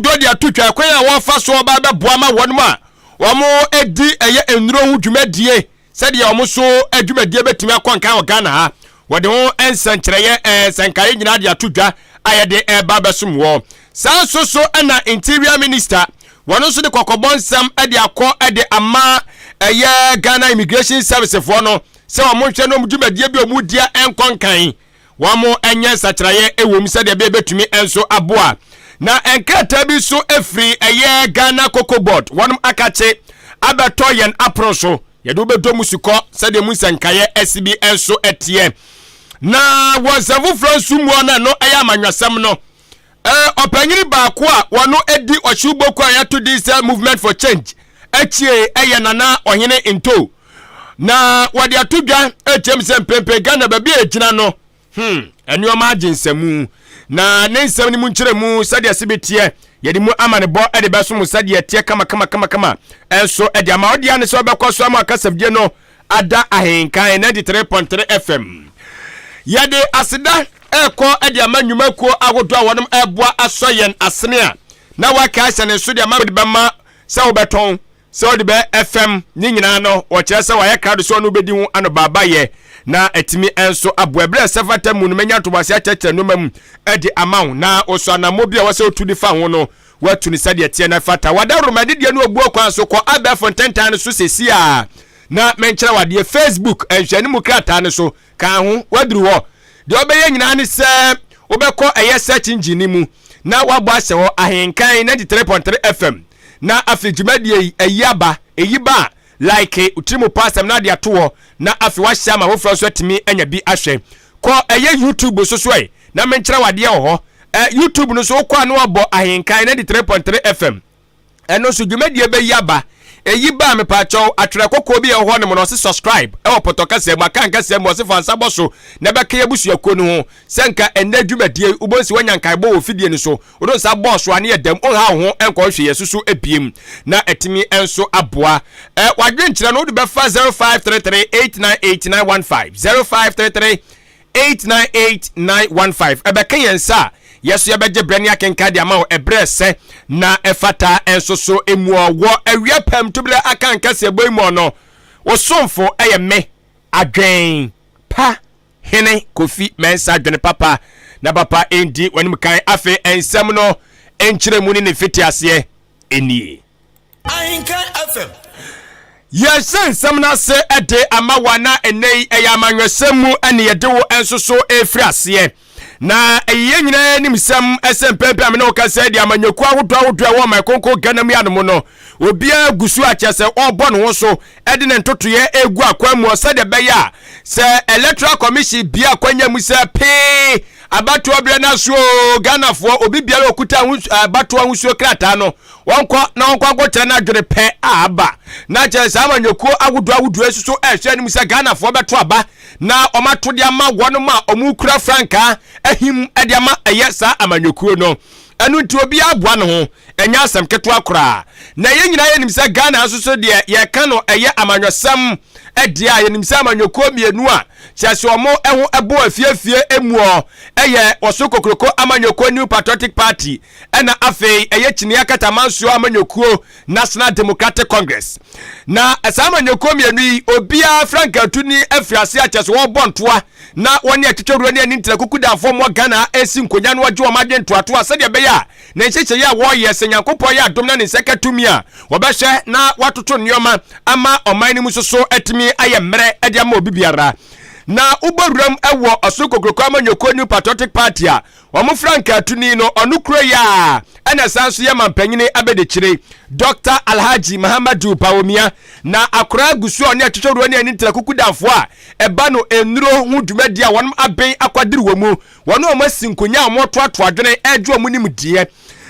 dɔ de ato twa kwan a wɔfa so ɔba bɛboa ma wɔn a wɔdi ɛyɛ nnuro ho dwumadie sɛdeɛ wɔn so dwumadie bɛtumi akɔ nkan wɔ Ghana ha. Wɔde ho nsɛnkyerɛeɛ nsɛnkaeɛ nyinaa de ato dwa a yɛde ɛreba bɛsom wɔ. Saa nso so na Interior Minister wɔn nso de kɔkɔbɔ nsɛm de akɔ de ama ɛyɛ Ghana Immigration Service foɔ no sɛ wɔn nhwɛ no dwumadie bi a wɔn dia nkɔ nkan. wɔnyɛ nsakyeraeɛ ɛwom sɛdeɛ ɛbɛyɛ bɛtumi nso aboa na nkrataa bi nso ɛfiri ɛyɛ ghana cocoa board wɔnom akakye abɛtɔ yɛn apono so yɛde wobɛdɔ mu sukɔ sɛdeɛ mu nsɛnkaeɛ ɛsi bi nso ɛteɛ na wɔ nsɛm foforɔ nso mu no ɛno ɛyɛ amanyɔsɛm no Ɔpanyin baako a wɔno di ɔhyew bɔku a yɛato din sɛ Movement for Change akyie ɛyɛ Nana Ɔhene Nto. Na wɔde ato dwa ɛkyɛm sɛ mprempren Ghana baabi a ɛgyina no, hmm, nneɛma agye nsamu. Na ne nsɛm no mu nkyerɛ mu sɛdeɛ se bɛteɛ yɛde mu amanebɔ de bɛso mo sɛdeɛ ɛteɛ kama kama kama kama ɛnso ɛde ama ɔde ane sɛ ɔbɛkɔ so ama akasafdie no Ada Ahenkan 93.3 FM. Yɛde aseda ɛrekɔ de ama nnwumakuo ahodoɔ a wɔnom ɛreboa asɔ yɛn asene a na waka ahyɛ ne nso de ama wode bɛma sɛ wobɛtɔn sɛ wode bɛ FM ne nyinaa no wɔkyerɛ sɛ wɔayɛ krado sɛ ɔno wobɛdi ho anobaabayɛ na atumi nso aboa berɛ ɛsɛ fata mu no mɛnya ntoboase akyɛkyerɛ nnoɔma mu de ama wo na wɔsɔ anammɔ bi a wɔsɛ wotu de fa ho no Wɔatu no sɛdeɛ ɛteɛ na ɛfata. Wɔadaworo m'adedie no obuo kwan so. Kɔ abɛɛfo ntentan no so seesei ara na menkyerɛ wo adeɛ. Facebook nhwɛanimu krataa no so kaa ho. Woaduru hɔ. Deɛ wobɛyɛ nyinaa ne sɛ wobɛkɔ ɛyɛ search engine no mu na woabɔ ahyɛ hɔ, Ahenkan 93.3 FM, na afei dwumadie yi ayi aba. Ɛyi ba a, Like wo tiri mu pɔ asɛm no ade ato hɔ na afei wahyɛ ama foforɔ nso atumi anya bi ahwɛ. Kɔ ɛyɛ YouTube so so ɛ na menkyerɛ wo adeɛ wɔ hɔ. Ɛ YouTube no so wokɔ a na wɔabɔ Ahenkan 93.3 FM ɛno nso dwumadie bɛyi aba. Ɛyi ba a mepaakyɛw atwerɛ kɔkɔɔ bi a ɛwɔ hɔ nom na ɔse subscribe ɛwɔ pɔtɔ kasa mu Akan kasa mu ɔse fa nsa bɔ so na bɛka yɛn abusuakuo no ho sɛ nka ɛnnɛ dwumadie yi wobɔ nsi wanya nkaebɔ wɔ fidie no so Wode wo nsa bɔ so a ne yɛ dam. Wonhaw wo ho nkɔ nhwɛyɛso so bio, na atumi nso aboa. Ɛ, W'adwenkyerɛ no wode bɛfa 0533898915, 0533898915. Ɛbɛka yɛn nsa a yɛso yɛbɛgye berɛ ne akenkan de ama wo ɛberɛ ɛsɛ na ɛfata nso so mu. Wɔ awia pam tuberɛ aka nkɛseɛbɔ yi mu no, wo somfo ɛyɛ me, adwen pa Hene Kofi Mensah dwene papa na papa ndi w'anim kan. Afei nsɛm no nkyerɛmu ne ne mfitiaseɛ nie. Ahenkan FM. Yɛhyɛ nsɛm no ase de ama wa na ɛnɛ yi ɛyɛ amanyɔsɛm mu ɛne yɛde wo nso so ɛfiri aseɛ. Na ɛyɛ yɛn nyinaa anim sɛm ɛsɛ mpɛmpɛ amene wo kasa ɛde amanyɔkuo ahodoɔ ahodoɔ ɛwɔ ɔman konko Ghana mu yɛ anomo no. Obiara gu so akyɛ sɛ ɔbɔ ne ho so de ne ntotoeɛ regu akwan mu sɛdeɛ ɛbɛyɛ a sɛ electoral commission bia akwanya mu sɛ pee abatoɔ berɛ no aso o ghanafoɔ obi biara ɔkuta abatoɔ ahosuo krataa no wɔnkɔ na wɔnkɔ akɔkyerɛ no adwene pɛ a aba na kyerɛ saa amanyɔkuo ahodoɔ ahodoɔ nso so ɛhwɛ anim sɛ ghanafoɔ bɛto aba na wɔato de ama wɔnom a wɔkura frankaa ahim de ama ɛyɛ saa amanyɔkuo no Ɛno nti obiara boa ne ho, ɛnyɛ asɛm ketewa koraa. Na yɛn nyinaa yɛnim sɛ Ghana nso so deɛ yɛreka no ɛyɛ amanyɔsɛm deɛ a, yɛnim sɛ amanyɔkuo mmienu a kyerɛ sɛ wɔn ho bɔ afie afie muɔ ɛyɛ Ɔsoro Kokroko Amanyɔkuo, New Patriotic Party, ɛna afei ɛyɛ Kyiniiɛ Akata Amansuo Amanyɔkuo. National Democratic Congress. Na saa amanyɔkuo mmienu yi, obiara frankatu ni afiri ase akyɛ so wɔrebɔ ntoa na wɔne atwitwa wura ne ani ntira kukudanfoɔ mmoa Ghana ɛresi nkonya no wɔgye wɔn adwene toatoa sɛdeɛ ɛbɛyɛ a ne nhyehyɛeɛ a wɔreyɛ sɛ Nyankopɔn yɛ adom na ne nsa ka tumi a wɔbɛhyɛ na wɔatoto nneɛma ama ɔman no mu so so atumi ayɛ mmerɛ de ama obi biara na wobɔ wuram wɔ ɔsoro kokuroko amanyɔkuo New Patriotic Party a Wɔn frankaatuni no, ɔno kura yi a ɛna san nso yɛ mampanyini abadikyire, Dɔkta Alhaji Mahamadou Bawumia, na akora agu so a ɔne atwitwa wura ne ani ntra kuku damfo a ɛba no nnuro ho dwumadi a wɔn aben akwadiri wɔ mu. Wɔne wɔn asi nkonya a wɔn atoatoa adwene regye wɔn nimdeɛ.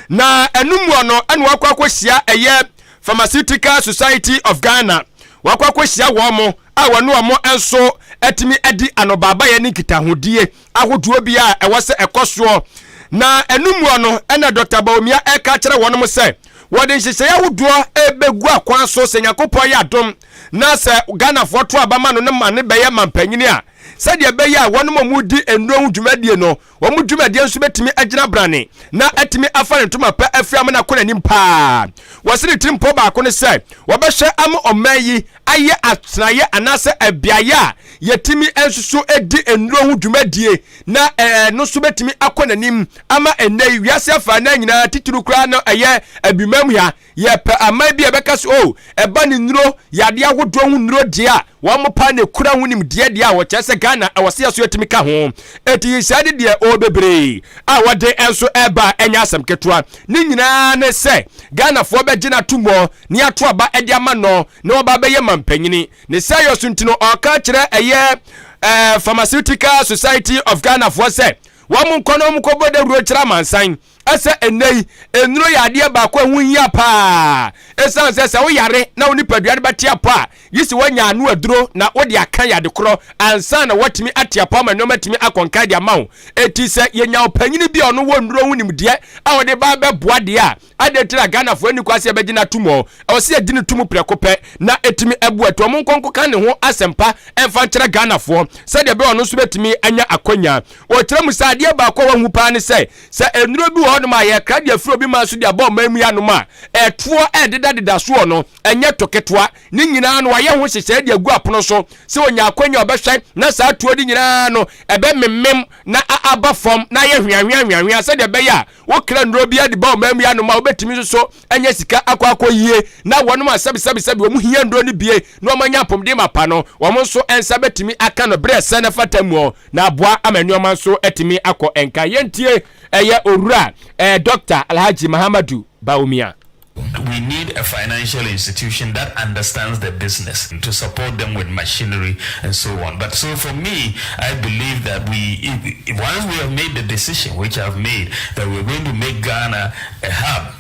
Na ɛno mua no ɛna wɔakɔ akɔhyia ɛyɛ Pharmaceutical Society of Ghana, wɔakɔ akɔhyia wɔn. a wɔne wɔn nso atumi adi anobaabayɛ ne nkitahodie ahodoɔ bi a ɛwɔ sɛ ɛkɔ soɔ. Na ɛno muɔ no ɛna Dɔkta Bawumia ɛreka akyerɛ wɔn mo sɛ wɔde nhyehyɛeɛ ahodoɔ ɛrebɛgu akwan so sɛ Nyankopɔn yɛ adom na sɛ Ghanafoɔ to aba ma no no ma no bɛyɛ mampanyini a sɛdeɛ ɛbɛyɛ a wɔn mo wɔn di nnuro ho dwumadie no Wɔn dwumadie nso bɛtumi agyina brane na atumi afa ne ntoma pa afiri amena kɔ n'anim paa. Wɔse ne tirimpɔ baako ne sɛ wɔbɛhwɛ ama ɔman yi ayɛ atenaeɛ anaasɛ abeaeɛ a yɛtumi nsoso di nnuro ho dwumadie na ɛno nso bɛtumi akɔ n'anim ama ɛnnɛ yi wiase afaa no nyinaa titiriw koraa no ɛyɛ abimam ha Yɛpɛ aman bi a ɛbɛka sɛ, oh, ɛba ne nnuro, yadeɛ ahodoɔ ho nnuro deɛ a, wɔn paa na ɛkura ho nimdeɛ deɛ a, wɔkyerɛ sɛ Ghana ɛwɔ sɛ yɛso yɛtumi ka ho. Enti nhyehyɛe no deɛ, oh, bebree a wɔde nso ɛreba a, ɛnyɛ asɛm ketewa. Ne nyinaa ne sɛ, Ghanafoɔ bɛgye no atom hɔ, na yɛato aba de ama no, na waba abɛyɛ manpanyini. Ne saa yɔ so nti no, ɔreka akyerɛ ɛyɛ eh, Pharmaceutical Society of Ghanafoɔ sɛ, wɔn nkɔ na wɔn nkɔbɔ dawuro nkyerɛ amansan. sɛ ɛnnɛ yi nnuro yɛ adeɛ baako a ɛho hia paa ɛsiane sɛ sɛ woyare na wo nipadua no bɛte apɔ a gye sɛ woanya ano aduro na wode aka yɛ ade korɔ ansa na woatumi ate apɔ ama nneɛma atumi akɔnka de ama wo ɛti sɛ yɛnya ɔpanyini bi a ɔno wɔ nnuro ho nimdeɛ a wɔde ba bɛboa deɛ a adɛn ti na Ghanafoɔ ani kwa sɛ yɛbɛgye no atom ɔ ɛwɔ sɛ yɛgye no tom prɛko pɛ na ɛtumi abu ɛto ɔmo nkɔnko ka ne ho asɛmpa ɛmfa nkyerɛ Ghanafoɔ sɛdeɛ bɛyɛ ɔno nso bɛtumi anya akwanya wɔkyerɛ mu sɛ adeɛ baako a wɔahu paa ne sɛ Sɛ nnuro bi wɔ hɔnom a yɛkra de afiri obi man so de aba ɔman mu yi anom a, ɛtoɔ rededadeda soɔ no, ɛnyɛ to ketewa. Ne nyinaa no, wɔayɛ ho nhyehyɛeɛ de agu apono so sɛ ɔnya akwanya a ɔbɛhwɛ na saa atuo de nyinaa no ɛbɛmemem na a aba fam na ayɛ hweanhwea hweanhwea sɛdeɛ ɛbɛyɛ a wokra nnuro biara de ba ɔman mu yi anom a wobɛtumi nso so anya sika akɔ akɔyie na wɔnom a sɛbesɛbesɛbe wɔn hia nnuro no bie na wɔanya apomden mapa no, wɔn nso nsa bɛtumi aka no berɛ a ɛsɛ na ɛfata muɔ. Na aboa ama nnoɔma nso atumi akɔ nka. Yɛntie ɛyɛ Owura ɛɛ Doctor Alhaji Mahamadou Bawumia. We need a financial institution that understands the business to support them with machinery and so on but so for me I believe that we once we have made the decision which I have made that we are going to make Ghana a hub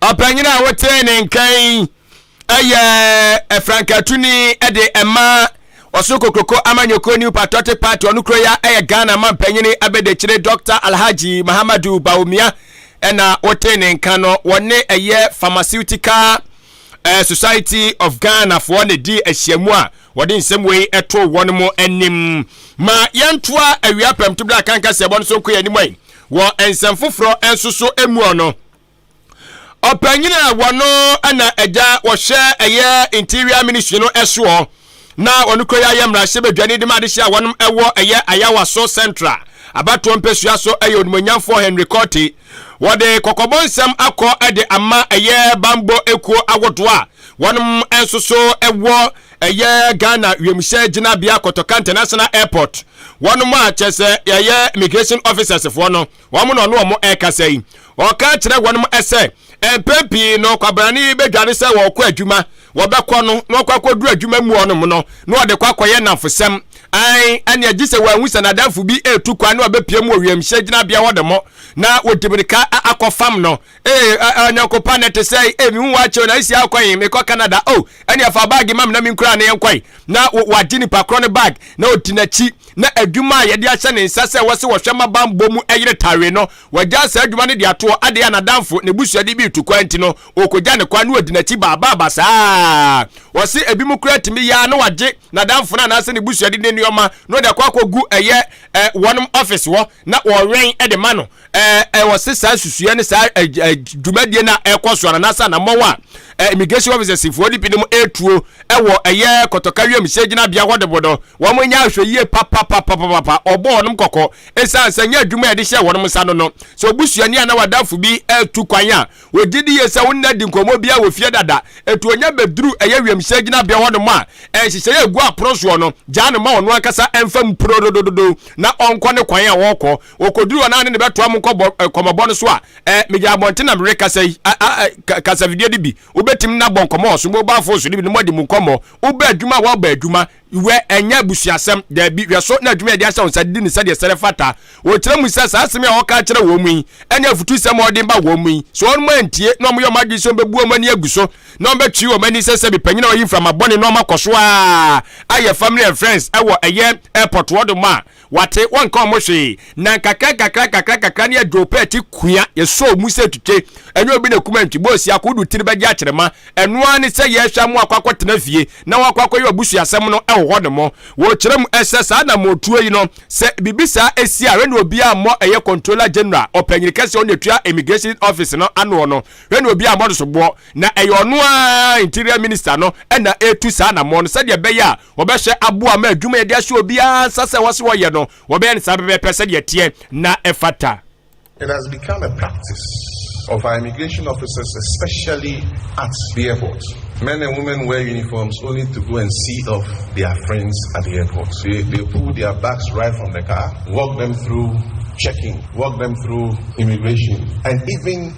Ɔpanyin a wotee ne nka yi yɛ frankatuni de ɛma ɔso kokroko amanyɔkuo new patriotic party ɔno kuro ya yɛ ghana ma mpanyin abɛdakyire dr alhaji mahamadu baomia ɛna wotee ne nka no wɔne ɛyɛ pharmaceutical uh, society of ghana foɔ na di ahyiamu a wɔde nsɛm wei ɛto wɔn anim ma yɛntoa awia pɛm to bere a kanka sɛ ɛbɔ no so nko yɛ anim Wɔ nsɛm foforɔ nso so muɔ no, ɔpanyin a wɔno na agya wɔhyɛ ɛyɛ interior ministry no ɛsoɔ na wɔn kɔ yɛ mmarahyɛ badwani de ma adehyɛ a wɔn ɛwɔ ɛyɛ ayawa so central abatoɔ mpɛsua so ɛyɛ onimonyamfoɔ henry kɔte wɔde kɔkɔbɔ nsɛm akɔ ɛde ama ɛyɛ bambɔ ekuo awodoɔ a wɔn nso so ɛwɔ Ɛyɛ Ghana wiemhyɛn gyinabea Kotoka International Airport. Wɔnom a kyerɛ sɛ ɛyɛ immigration officers foɔ no, wɔn na ɔne wɔn ɛrekasa yi. Ɔka kyerɛ wɔnom sɛ mpɛn pii no kwabrane yi bɛdwane sɛ wɔrekɔ adwuma, wɔbɛkɔ no na wɔkɔ akɔduru adwuma mu hɔnom no na wɔde kɔ akɔyɛ nnamfosɛm. Ae, ɛneɛ gye sɛ wɔahu sɛ n'adamfo bi retu kwan na ɔbɛpia mu wɔ wiemhyɛn gyinabea hɔ nom na wɔdi mirika akɔ fam no Ee, ɛ ɛ ɔnyɔnko pa na ɛte sɛn? Ee, mehu w'akyɛw na esi akɔ he? Mekɔ Canada. O, oh, ɛnea fa baage ma me na minkura wo na yɛnkɔe. Na wagye nipa korɔ no bag na odi n'akyi. Na adwuma a yɛde ahyɛ ne nsa sɛ wɔse wɔhwɛ mma bammɔ mu yere tawee no, wagyaa saa adwuma no de ato hɔ. Adɛn a n'adamfo, n'abusua de bi retu kwan nti no, ɔrekogya ne kwan na wadi n'akyi baabaaba saa. Wɔse ebinom koraa tumi yɛ ara na wagye n'adamfo no anaasɛ ne busua de ne nneɛma na ɔde akɔ akɔgu ɛyɛ ɛ wɔnom ɔfese hɔ na wɔwɛn de ma no. ɛwɔ se saa susuɛ ne saa dwumadie no a ɛkɔ so anaasɛ anammɔn a immigration officers foɔ de binom ɛtuo ɛwɔ ɛyɛ kɔtɔka wiem hyɛ gyinabea hɔ de bo no wɔn nyɛ ahwɛ yie papapapapapa ɔbɔ wɔn kɔkɔ ɛsiane sɛ nyɛ adwuma a yɛde hyɛ wɔn nsa no no sɛ obusuani anaa wadafo bi ɛtu kwan a wɔgye di yie sɛ wɔn nna di nkɔmmɔ bi a wɔfie dada ɛtu onya bɛduru ɛyɛ wiem hyɛ gyinabea hɔ nom a ɛnhyehyɛ yɛ gu apono soɔ no gyaa no ma ɔno ankasa ɛmfa mu porodododo na ɔnkɔ ne kwan a wɔkɔ wɔkɔduru ɔnaa ne ne bɛtoa mo nkɔmmɔbɔ no so a megya abɔnten na mehwɛ kasa yi kasavideo no bi wobɛtumi na bɔ nkɔmmɔ wɔ so mobile phone so no bi no mɔde mu nkɔmmɔ woba adwuma a wɔba adwuma wɛ ɛnyɛ abusuasɛm daabi hwɛ so na adwuma yɛde ahyɛ wo nsa didi ne sɛdeɛ sɛre fata wɔkyerɛ mu sɛ saa asɛm a wɔka kyerɛ wɔn mu yi ɛne afutu sɛm a wɔde ba wɔn mu yi so wɔn mu antie na wɔyɛ wɔn adwene sɛ wɔbɛbu wɔn ani agu so na wɔbɛtwe wɔn ani sɛ sɛ bepanyina wɔyi mframa bɔne na wɔakɔ so a ayɛ family and friends ɛwɔ ɛyɛ airport wɔde mu a Wate, wɔnka ɔmo hwee. Na nkakra nkakra nkakra nkakra no yɛdwoo pɛɛte kua, yɛsɔɔ mu sɛ twitwe. Ɛnyɛ obi na ekum antwi, bɔɔ siako, wodu tiri bɛgye akyerema. Ɛno ara ne sɛ yɛrehwɛ amu akɔ akɔtena fie, na wɔakɔ akɔyɛ ɔbusuasɛm no wɔ hɔnom. Wɔkyerɛ mu sɛ saa anammɔntuo yi no, sɛ biribi saa si a, hwɛ nea obiara mmɔ ɛyɛ Controller General, Ɔpanyin Kɛse a ɔno na etua Immigration Office no ano no, hwɛ nea obiara mmɔ no soboɔ. Na ɛyɛ ɔno ara, Interior Minister no, na ɛretu saa anammɔn no sɛdeɛ ɛbɛyɛ a, Wɔbɛhyɛ abo ama adwuma a yɛde ahyɛ obiara nsa sɛ wɔse wɔyɛ no, wɔbɛyɛ no saa pɛpɛɛpɛ sɛdeɛ ɛteɛ na ɛfata. It has become a practice of our immigration officers especially at the airport, men and women wear uniforms only to go and see off their friends at the airport, they pull their bags right from the car, walk them through checking, walk them through immigration and even.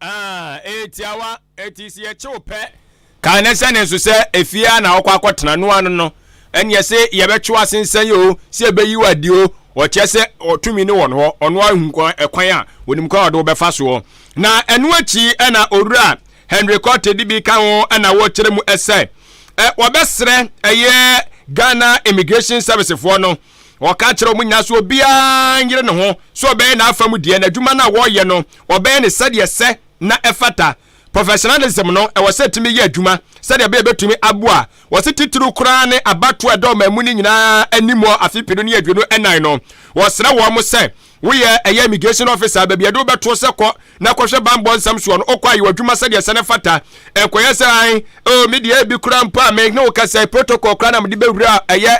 ɛyɛ tiawa ɛti si ɛkyew pɛ kaa ne sɛ ne nso sɛ efie a na ɔkɔ akɔtena no ano no ɛne ɛsɛ yɛbɛtwe asensɛn yi o sɛ ɛbɛyi wɔ adi o ɔkyɛ sɛ ɔtumi ne wɔn hɔ ɔno ahu ɛkwan a onim kwan a ɔde wɔbɛfa soɔ na ɛno akyi ɛna owura henry kɔte de bi ka ho ɛna wɔkyerɛ mu ɛsɛ ɛ wɔbɛsrɛ ɛyɛ ghana immigration service foɔ no Ɔka kyerɛ wɔn nyinaa sɛ obiara nyere ne ho sɛ ɔbɛyɛ n'afa mu deɛ, na adwuma no a wɔreyɛ no, wɔbɛyɛ no sɛdeɛ ɛsɛ na ɛfata. Professionalism no, ɛwɔ sɛ ɛtumi yɛ adwuma sɛdeɛ ɛbɛyɛ ɛbɛtumi aboa. Wɔse titiriw koraa ne abatoɔ a ɛda ɔman mu no nyinaa anim wɔ afe penu ne aduonu nnan no, wɔsrɛ wɔn sɛ, Woyɛ ɛyɛ immigration officer baabi yɛde wobɛtoɔ sɛ kɔ na kɔhwɛ banbɔ nsɛm soɔ no, wokɔ ayɛ w'adwuma sɛdeɛ sɛ no fata. Nkɔyɛ sɛ an, oh me deɛ ebi koraa mpo a me ne wo kasa yi protocol koraa na mede bɛwura ɛyɛ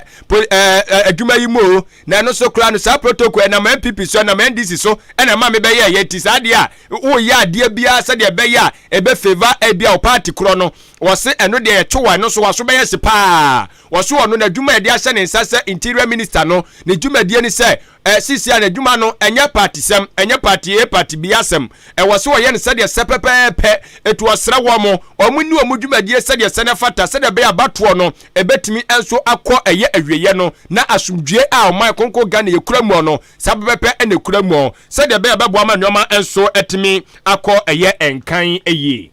adwuma yi mu o, na ɛno so koraa no saa protocol ɛnam NPP so, ɛnam NDC so ɛna ɛma me bɛyɛ ɛyɛ nti saa adeɛ a woyɛ adeɛ biara sɛdeɛ ɛbɛyɛ a ɛbɛ favor ebi a wo party korɔ no, wɔse ɛno deɛ yɛtwe wa ɛno so waso bɛyɛ se paa. Wɔso ɔno n'adwuma a yɛde ahyɛ ne nsa sɛ interior minister no ne dwumadie ne sɛ Eh, sisi a n'adwuma no ɛnyɛ patisɛm, ɛnyɛ pati A pati B asɛm. Ɛwɔ sɛ wɔyɛ no sɛdeɛ ɛsɛ pɛpɛɛpɛ. Eti ɔsrɛ wɔn, wɔn nni wɔn dwumadie sɛdeɛ ɛsɛ na ɛfata sɛdeɛ ɛbɛyɛ a abatoɔ no ɛbɛtumi nso akɔ ɛyɛ awieɛ no na asomdwoeɛ a Ɔman Kronkron Ghana yɛkura muɔ no, saa pɛpɛɛpɛ na ɛkura muɔ sɛdeɛ ɛbɛyɛ a ɛbɛboa ma nnoɔma nso atumi akɔ ɛyɛ nkan yie.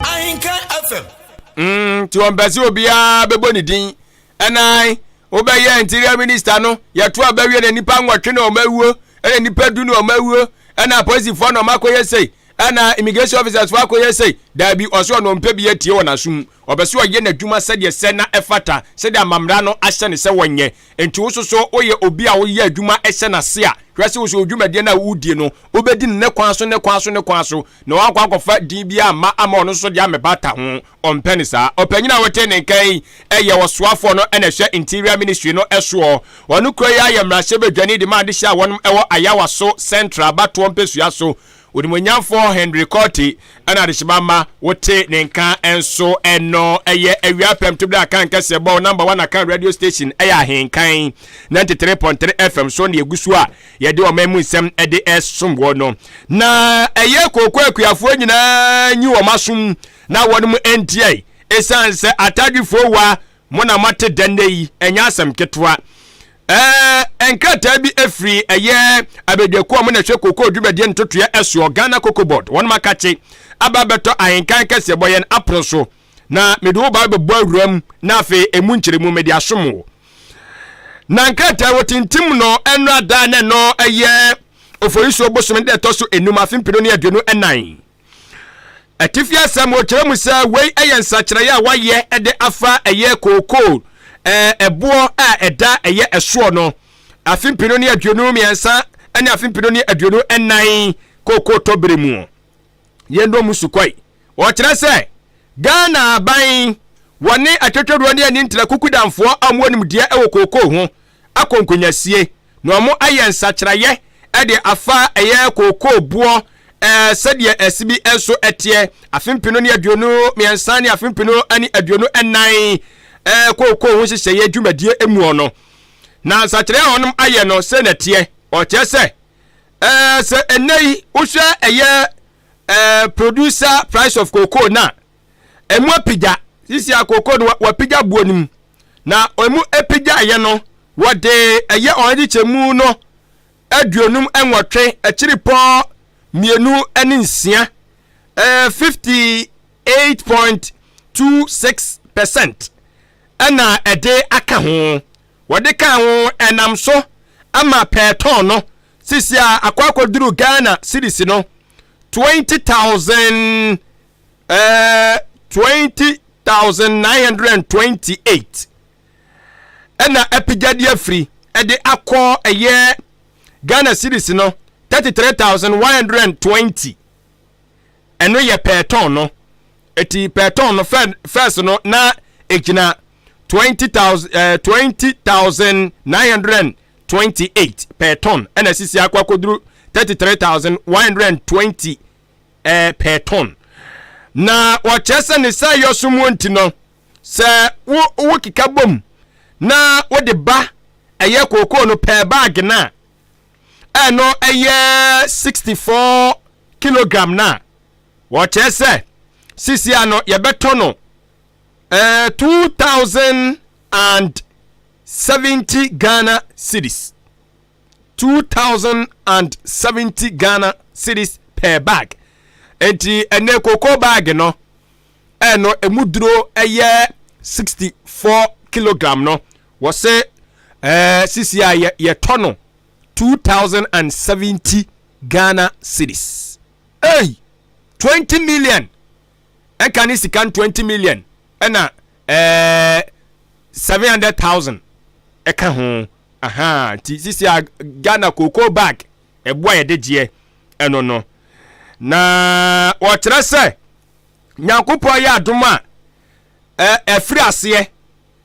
Ahenka FM. Mm, nti ɔmpɛ sɛ obiara bɛbɔ ne din ɛnan wobɛyɛ interior minister no yɛto a bɛwie na nipa nwɔtwe na ɔma awuo ɛna nipa du na ɔma awuo ɛna apolisifoɔ na ɔma akɔyɛ sei ɛna immigration officers foɔ akɔyɛ sei daabi ɔsɛ ɔno ɔmpɛ bi atie wɔ n'asom ɔbɛ sɛ ɔyɛ n'adwuma sɛdeɛ sɛ na ɛfata sɛdeɛ amammerɛ no ahyɛ ne sɛ wɔnyɛ Enti wo nso so woyɛ obi a woyɛ adwuma hyɛ n'ase a, hwɛ sɛ wo nso wo dwumadie no a wodie no, wobɛdi no ne kwan so, ne kwan so, ne kwan so, na woankɔ ankɔfa din biara amma ama ɔno nso de ammɛbata ho. Ɔmpɛ no saa. Ɔpanyin a wote ne nka yi yɛ ɔsoafoɔ no na ɛhwɛ Interior Ministry no soɔ. Ɔno kura yi ara yɛ mmarahyɛbadwani de ma adehyeɛ a wɔnom wɔ Ayawaso Central abatoɔ mpɛsua so Onimuonyamfoɔ Henry Korte na adehyema mma wote ne nka nso ɛno ɛyɛ awia apɛmto berɛ a kan kɛseɛ bɔ wo number one akan radio station ɛyɛ ahenkan 93.3 FM so ne ɛgu so a yɛde ɔman mu nsɛm ɛde ɛsom wɔ no na ɛyɛ kooko akuafoɔ nyinaa nyi wɔn asom na wɔn mu ntiae ɛsiane sɛ atadwefoɔ wa Mo na moate dɛ nnɛ yi, ɛnyɛ asɛm ketewa. Ɛɛ, nkrataa bi firi ɛyɛ abadwakuo a wɔn na ɛhwɛ kokoo dwumadie ntotoeɛ ɛsoɔ, Ghana Cocoa Board, wɔn akakye aba abɛtɔ ahenkan kɛseɛ bɔ yɛn apono so. Na mede wo ba bɛbɔ awura mu na afei ɛmu nkyerɛmu mede asom wo. Na nkrataa wɔ tintim no ɛno ada na ɛno ɛyɛ Oforisuo bosome da ɛtɔ so enum afe mpenu ne aduonu ɛnan. Atifi asɛm wɔkyerɛ mu sɛ wei yɛ nsakyerɛeɛ a wɔayɛ de afa ɛyɛ kookoo ɛboɔ a ɛda ɛyɛ ɛsoɔ no afe mpenu ne aduonu mmiɛnsa ne afe mpenu ne aduonu nnan kookoo tɔbere mu yɛn dɔm sukɔe wɔkyerɛ sɛ ghana aban wɔne atwatwadoɔ ne ani ntra kukudamfoɔ a wɔn nimdeɛ wɔ kookoo ho akɔ nkonyasie na wɔayɛ nsakyeraeɛ de afa ɛyɛ kookoo boɔ sɛdeɛ ɛse bi nso teɛ afe mpenu ne aduonu mmiɛnsa ne afe mpenu ne aduonu nnan kookoo ho nhyehyɛeɛ dwumadie muɔ no na nsakyerɛ a wɔnom ayɛ no sɛ na teɛ ɔkyerɛ sɛ sɛ ɛnɛ yi wohwɛ ɛyɛ producer price of cocoa no a ɛmu apigya sisi akoko no wapigya boɔ no mu na ɛmu apigyaeɛ no wɔde ɛyɛ wɔn agyikyɛmu no aduonum nwɔtwe akyiri pɔ mmienu ne nsia ɛɛ fifty eight point two six percent ɛna ɛde aka ho wɔde ka ho ɛnam so ama pɛɛtɔn no sisi a akɔ akɔduru ghana series no twenty thousand. eh, 20928 ɛna apagya de afiri ɛde akɔ ɛyɛ ghana series no 33120 ɛno yɛ pɛɛtɔn no ɛti pɛɛtɔn no fɛs no na ɛgyina 20928 eh, pɛɛtɔn ɛna sisi akɔ akɔduru 33120 eh, pɛɛtɔn. Na wɔkyerɛ sɛ ne saa yɔ so mu nti no, sɛ wo wo keka bom na wode ba ɛyɛ kookoo no pɛɛ baage no a ɛno ɛyɛ 64 kilogram no a wɔkyerɛ sɛ sisia no yɛbɛtɔ no eh, 2070 Ghana cedis. two thousand and seventy ghana cedis per bag nti ɛnɛ koko bag no ɛno emu duro ɛyɛ sixty four kilogram no wɔsɛ ɛɛ sisi a yɛ yɛtɔ no two thousand and seventy ghana cedis ɛyi twenty million ɛka ne sika twenty million ɛna ɛɛ seven hundred thousand ɛka ho. Ahaa nti sisi a Ghana cocoa bag ɛbo a yɛde gyeɛ ɛno no na wɔkyerɛ sɛ Nyankopɔn ayɛ adom a ɛfiri aseɛ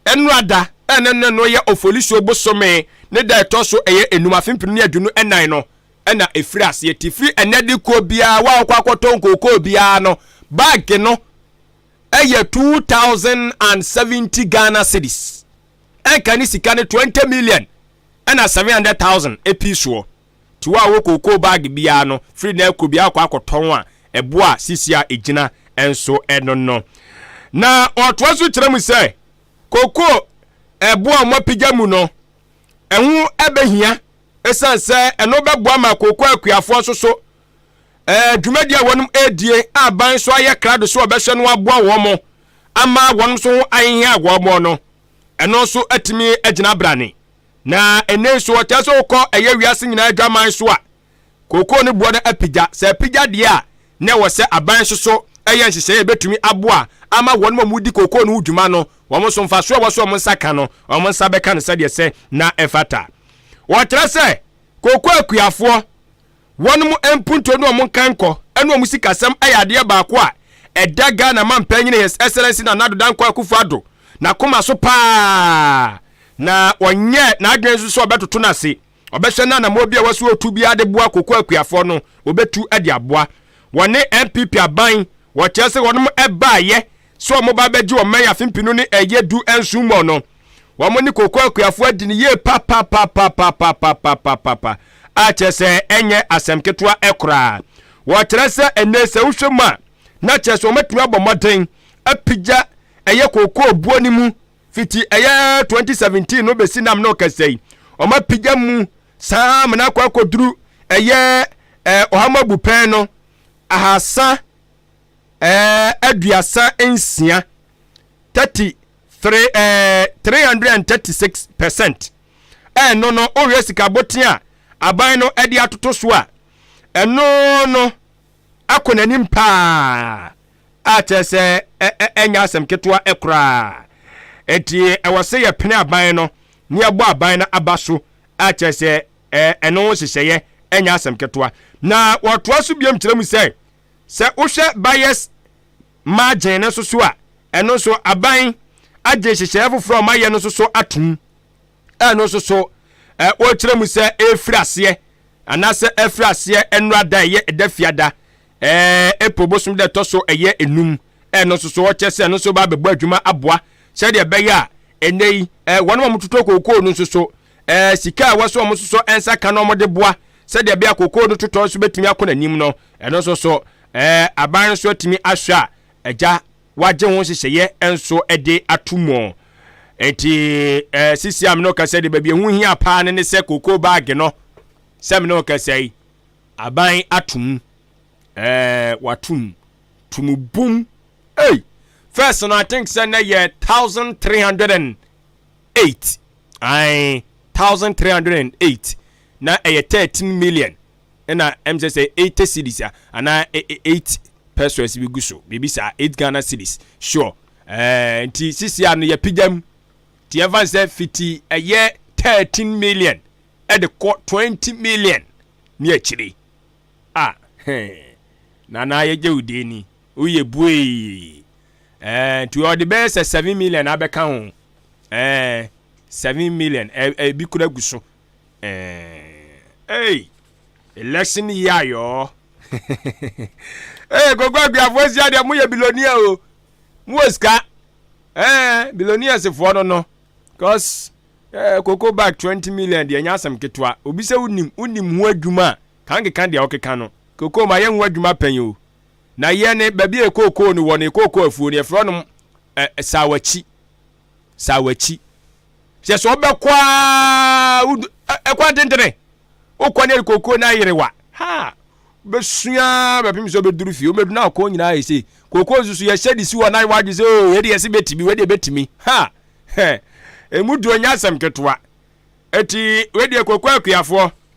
ɛno ada ɛne ne no yɛ ofolisuo bosome ne da ɛtɔ so ɛyɛ enum afe mpem ne aduonu ɛnan no ɛna ɛfiri aseɛ ti firi ɛnɛ de kɔ biara wa ɔkɔ akɔtɔ nkookoo biara no bag no ɛyɛ two thousand and seventy Ghana cedis. ɛnka ne sika no 20 million ɛna 700,000 ɛpii soɔ ti wɔ a wɔ kookoo bag biara no firi na ɛkɔ biara kɔ akɔtɔn a ɛboɔ a sisi a ɛgyina ɛnso ɛno no na ɔtoa so kyerɛ mu sɛ kookoo ɛboɔ a wɔapigya mu no ɛho ɛbɛhia ɛsiane sɛ ɛno bɛboa ma kookoo akuafoɔ nso so ɛɛ dwumadi a wɔn edie a ban nso ayɛ krado sɛ ɔbɛhwɛ no aboa wɔn mo ama wɔn nso ho ahihia a wɔn mo no ɛno nso atumi agyina brane na ɛnɛ nso ɔkyɛ sɛ wokɔ ɛyɛ wiase nyinaa adwaman so a kookoo no boɔ no apigya sɛ apigya deɛ a na ɛwɔ sɛ aban nso so ɛyɛ nhyehyɛeɛ ɛbɛtumi aboa ama wɔn mo mu di kookoo no ho dwuma no wɔn nso mfa so a wɔso wɔn nsa ka no wɔn nsa bɛka no sɛdeɛ sɛ na ɛfata wɔkyerɛ sɛ kookoo akuafoɔ Wɔnom mpuntuo ne wɔn nkankɔ ne wɔn sikasɛm yɛ adeɛ baako a ɛda Ghana Manpanyini His Excellency Nana Addo Dankwa Akufo Addo n'akoma so pa ara, na ɔnyɛɛ n'adwene nso sɛ ɔbɛtoto no ase. Ɔbɛhwɛ na anammoɔ bi a ɛwɔ sɛ ɔtu biara de boa Koko Akuafoɔ no, ɔbɛtu de aboa. Wɔne NPP aban, wɔkyerɛ sɛ wɔnom baeɛ sɛ wɔn ba bɛgye wɔn mɛyɛ afe mpinu ne ɛyɛ du nson mu no wɔn ne koko akuafo adi ne yie papapapapapapapapa a kyerɛ sɛ ɛnyɛ asɛm ketewa koraa wɔkyerɛ sɛ ɛnɛ sɛ wohwɛ mu a na kyerɛ sɛ wɔatumi abɔ mmɔden apigya ɛyɛ koko buo no mu fiti ɛyɛ 2017 no bɛsi nam no kɛsɛ yi wɔn apigya mu saa amena akɔ akɔduru ɛyɛ ɔhamabu pɛn no ahasa ɛɛ aduasa nsia thirty three ɛɛ three hundred and thirty six percent ɛno no wohwɛ sika boten a aban no ɛde atoto so a ɛno no akɔ n'anim paa a kyerɛ sɛ ɛnyɛ asɛm ketewa ɛkoraa eti ɛwɔ sɛ yɛpene aban no ne yɛbɔ aban no aba so a kyerɛ sɛ ɛno ho hyehyɛeɛ ɛnyɛ asɛm ketewa na wɔtoa so biom kyerɛ mu sɛ Sɛ wohwɛ buyer's margin no nso so a, ɛno nso aban agye nhyehyɛeɛ foforɔ a wɔayɛ no nso so atom. Ɛno nso so, wɔkyerɛ mu sɛ ɛrefiri aseɛ anaasɛ ɛfiri aseɛ nnora da ɛyɛ ɛda fiada April bosom da ɛtɔ so ɛyɛ enum. Ɛno nso so wɔkyerɛ sɛ ɛno nso ba abɛbɔ adwuma aboa sɛdeɛ ɛbɛyɛ a ɛnɛ yi wɔn a wɔtoto kookoo no nso so ɛɛ eh, sika a ɛwɔ sɛ wɔsosɔ nsa ka na wɔde boa sɛdeɛ ɛbɛyɛ kookoo no totɔ nso bɛtumi akɔ n'anim no ɛno nso so ɛɛ eh, aban nso atumi ahwɛ a agya wagye ho nhyehyɛeɛ nso de ato mu nti ɛɛ eh, sisi a mene ɔkasa de baabi ehu hia paa ne ne sɛ kookoo baage no sɛ mene ɔkasa yi aban atum ɛɛ watum tumu bum ei first no i think sɛ na yɛ thousand three hundred and eight. Ae, thousand three hundred and eight, na ɛyɛ thirteen million ɛna ɛm sɛ sɛ eighty cedis a, anaa e, e, eight pesos bi gu so, biribi saa, eight Ghana cedis, sure. Ɛɛ, nti sisi ano yɛ pigya mu, nti yɛmfa nsɛ fiti ɛyɛ thirteen million ɛde kɔ twenty million ne akyiri. Ah, hɛn, nana yɛgye wo din ni. Woyɛ buee ɛɛ nti ɔde bɛyɛ sɛ seven million abɛka ho ɛɛ seven million ɛɛ ebi kura gu so ɛɛ ɛy election yi ayɔɔ ɛɛ gogo aguafoɔ si adeɛ mo yɛ bilonia o mo wɔ sika ɛɛ bilonia sefoɔ no no cause ɛɛ koko bag twenty million deɛ nyɛ asɛm ketewa obi sɛ wonim wonim ho adwuma a kankeka deɛ ɔkeka no koko ma yɛ ho adwuma pɛn o. Na yɛ ne baabi a ɛkookoo no wɔ ne kookoo afuo no yɛfrɛ nom ɛ saawakyi saawakyi hyɛ sɛ ɔbɛkɔ a wodu ɛkwan tentene wokɔ ne kookoo no ayerewa ha bɛsua bɛpem sɛ ɔbɛduru fie wobɛdu no akɔ nyinaa yɛ sei kookoo nso so yɛhyɛ de si wɔ nan wadwe sɛ o yɛde yɛse bɛtumi wɛdeɛ bɛtumi ha ɛmu duo nyɛ asɛm ketewa ɛti wɛdeɛ kookoo akuafoɔ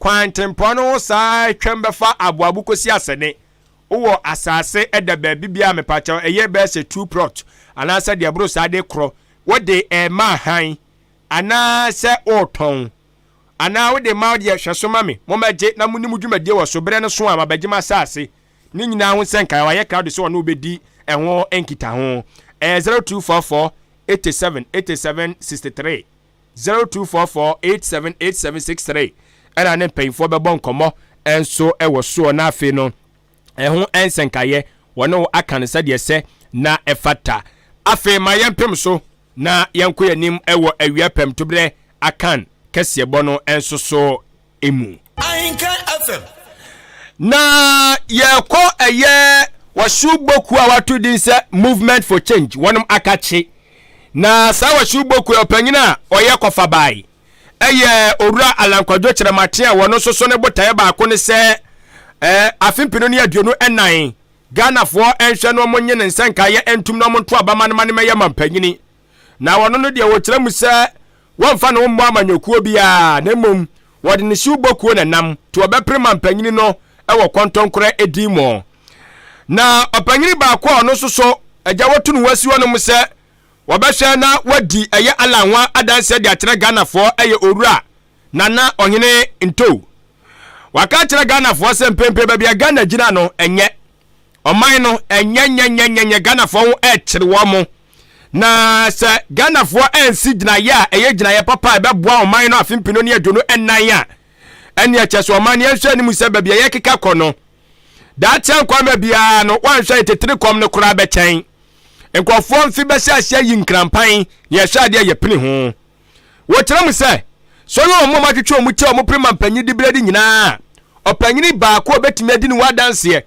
Kwantempɔn no ho saa twam bɛfa aboabo kosi asɛne wowɔ asase ɛda baabi bia mepakyɛw ɛyɛ bɛyɛ sɛ two plot anaasɛ deɛ ɛboro saa de korɔ wode ɛma han anaa sɛ ɔretɔn anaa wode ma deɛ hwɛ so ma me mommɛgye na mo ne mo dwumadie wɔ so berɛ no so a mabɛgye m'asase ne nyinaa ho sɛ nkae wayɛ crowd sɛ ɔne wobɛdi ɛho nkitaho ɛyɛ 0244 87 87 63 Zero two four four eight seven eight seven six three ɛna ne mpanyinfoɔ bɛbɔ nkɔmɔ nso ɛwɔ soɔ na afei no ɛho nsɛnkaeɛ wɔne wo aka no sɛdeɛ sɛ na ɛfata afei ma yɛmpem so na yɛnkɔ yɛn anim ɛwɔ awia pɛm toberɛ akan kɛseɛbɔ no nso so mu. Ahenka FM. Na yɛkɔ ɛyɛ wɔso boku a wato din sɛ movement for change wɔnom akakye na saa wɔso boku ɔpanyin a ɔyɛ kɔfa bae ɛyɛ owura alankwadwo kyerɛmate a wɔno soso ne botaeɛ baako ne sɛ eh, afe mpino ne aduonu ɛnan ghanafoɔ ɛnhwɛ no ɔmo nye ne nsɛnkaeɛ ɛntum na ɔmo nto abama no ma no mɛyɛ mampanyini Na wɔno no deɛ wɔkyerɛ mu sɛ wɔmfa ne ho mmɔ amanyɔkuo biara, na mmom wɔde ne siw bɔ kuo na nam to ɔbɛpere ma mpanyini no wɔ kɔntɔnkorɛ din mu. Na ɔpanyini baako a ɔno nso so agya wɔto ne ho asi hɔ no mu sɛ wɔbɛhwɛ na wɔadi ɛyɛ Allah ho adanseɛ de akyerɛ Ghanafoɔ ɛyɛ Owura Nana Ɔhene Ntow. Waka akyerɛ Ghanafoɔ sɛ mprempren baabi a Ghana gyina no ɛnyɛ ɔman no ɛnyɛnyɛnyɛnyɛnyɛ ghanafoɔ ho ɛkyere wɔn mo na sɛ ghanafoɔ ɛnsi gyinaeɛ a ɛyɛ gyinaeɛ papa a ɛbɛboa ɔman no afe mpino ne aduonu ɛnan a ɛne ɛkyɛ so ɔman no yɛnhwɛ anim sɛ baabi a yɛkeka kɔ no daakyɛ nkwama biara no wɔnhwɛ ntetene kɔm no koraa bɛkyɛn nkurɔfoɔ mfe bɛhyɛ aseɛ yi nkrampan ne ɛhwɛ adeɛ yɛpene ho Wɔkyerɛ mu sɛ, sɛ ɔyɛ wɔn a wɔatwetwe wɔn ti a wɔpere ma mpanyin dibere de nyinaa a, ɔpanyin baako a obetumi adi ne ho adanseɛ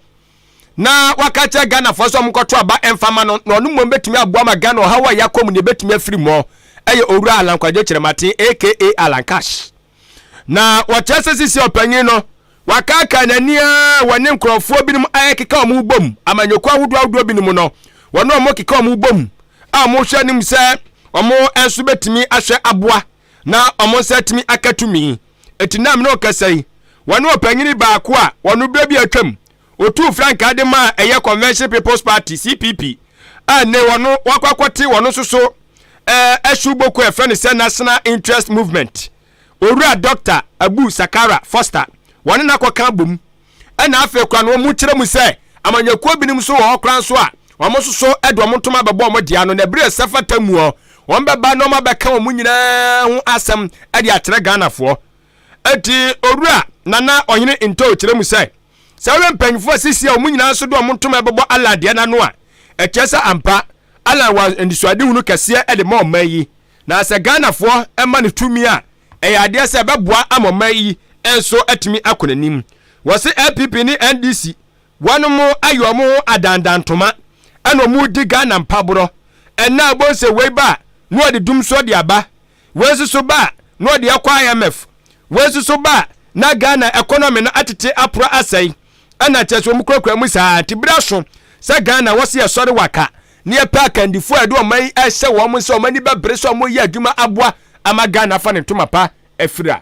na waka akyerɛ Ghanafoɔ sɛ wɔnkɔto aba mfa ma no na ɔno mmom betumi aboa ma Ghana ɔhaw a ɛyɛ akɔ mu no ebetumi afiri mu ɛyɛ Owura Alan Kwadwo Kyerematen aka Alan Cash. Na wɔkyerɛ sɛ sisi ɔpanyin no wakaakaa n'ani a wɔne nkurɔfoɔ binom ayɛkeka wɔn bom amanyɔkuo ahodoɔ ahodoɔ binom no wɔne wɔn keka wɔn bom a wɔhwɛ anim sɛ wɔn nso bɛtumi ahwɛ aboa na wɔn nsa atumi aka tumi ɛti nam ne ɔkasa yi wɔne ɔpanyini baako a wɔn berɛ bi atwam Otuu frankaa de maa ɛyɛ Convention People's Party, CPP, a nnɛ wɔno wɔakɔ akɔte wɔno nso so ɛɛ ɛhyew boko a ɛfrɛ no sɛ National Interest Movement. Owura Dɔkta Abu Sakara Foster, wɔne no akɔka abom. Ɛna afei koraa no wɔkyerɛ mu sɛ amanyɔkuo binom nso wɔ hɔ koraa nso a wɔn nso so ɛde wɔn ntoma abɛbɔ wɔn dea no na ɛbere a ɛsɛ fata muɔ wɔn bɛba na wɔn abɛka wɔn nyinaa ho asɛm ɛde akyerɛ Ghanafoɔ. Eti Owura Nana Ɔhene Ntow kyerɛ mu sɛ Sɛ wohwɛ mpanyimfo a seesei a wɔn nyinaa nso de wɔn ntoma rebɛbɔ Allan deɛ no ano a, ɛkyerɛ sɛ ampa, Allan wɔ anisoadehunu kɛseɛ de ma ɔman yi. Na sɛ Ghanafoɔ ma no tumi a, ɛyɛ adeɛ sɛ ɛbɛboa ama ɔman yi nso atumi akɔ n'anim. Wɔse LPP ne NDC, wɔnom ayɛ wɔn ho adandantoma ɛna wɔredi Ghana mpaborɔ. Ɛnnɛ a wobɛhu sɛ wei ba a, na wɔde dum nso de aba. Wei nso so ba a, na ɔde akɔ IMF. Wei nso so ba a, na Ghana economy no atete apora asɛe. Ɛna kyerɛ sɛ wɔn kurakura mu saa nti bere aso sɛ Ghana wɔse yɛsɔre waka na yɛpɛ akandifoɔ a ɛde wɔn yi ɛhyɛ wɔn nsa wɔn ani bɛbere sɛ wɔyɛ adwuma aboa ama Ghana afa ne ntoma pa afira.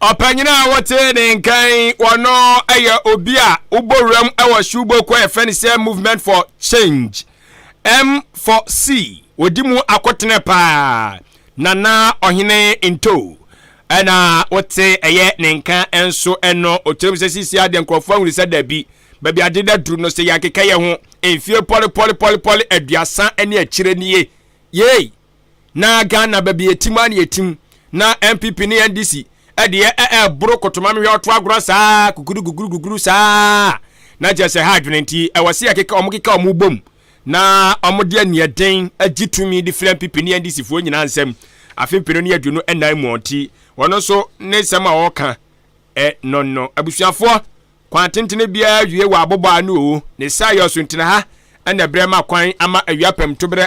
ɔpanyin a wɔte ne nkan wɔno yɛ obi a wobɔ wuram wɔ subo kɔ yɛfrɛ no sɛ movement for change m for c wɔdi mu akɔtene paa nana ɔhene nto ɛna wote ɛyɛ ne nka nso ɛno ɔkyerɛm sɛ sisi adeɛ nkurɔfoɔ ahunu sɛ dabi baabi ade da duru no sɛ yɛakeka yɛ ho mfie pɔlepɔlepɔlepɔle aduasa ne akyire nie yei na ghana baabi yɛtim a na yɛtim na npp ne ndc ɛdeɛ ɛɛboro kotoma mehwɛ ɔto agorɔ saa kukuru kukuru kukuru saa na kyerɛ sɛ ha adwene nti ɛwɔ se yɛkeka ɔmo keka ɔmo bom na ɔmo de aniɛden agye tumi de fira npp ne ndc foɔ nyinaa nsɛm afe mpenu ne aduonu ɛnan mu ɔnti wɔn nso ne nsɛm a ɔɔka ɛ nɔnɔ abusuafoɔ kwan tentene biara wie wɔ abobɔ ano o ne saa yɛ ɔso ntina ha ɛna berɛ ma kwan ama awia pɛm to berɛ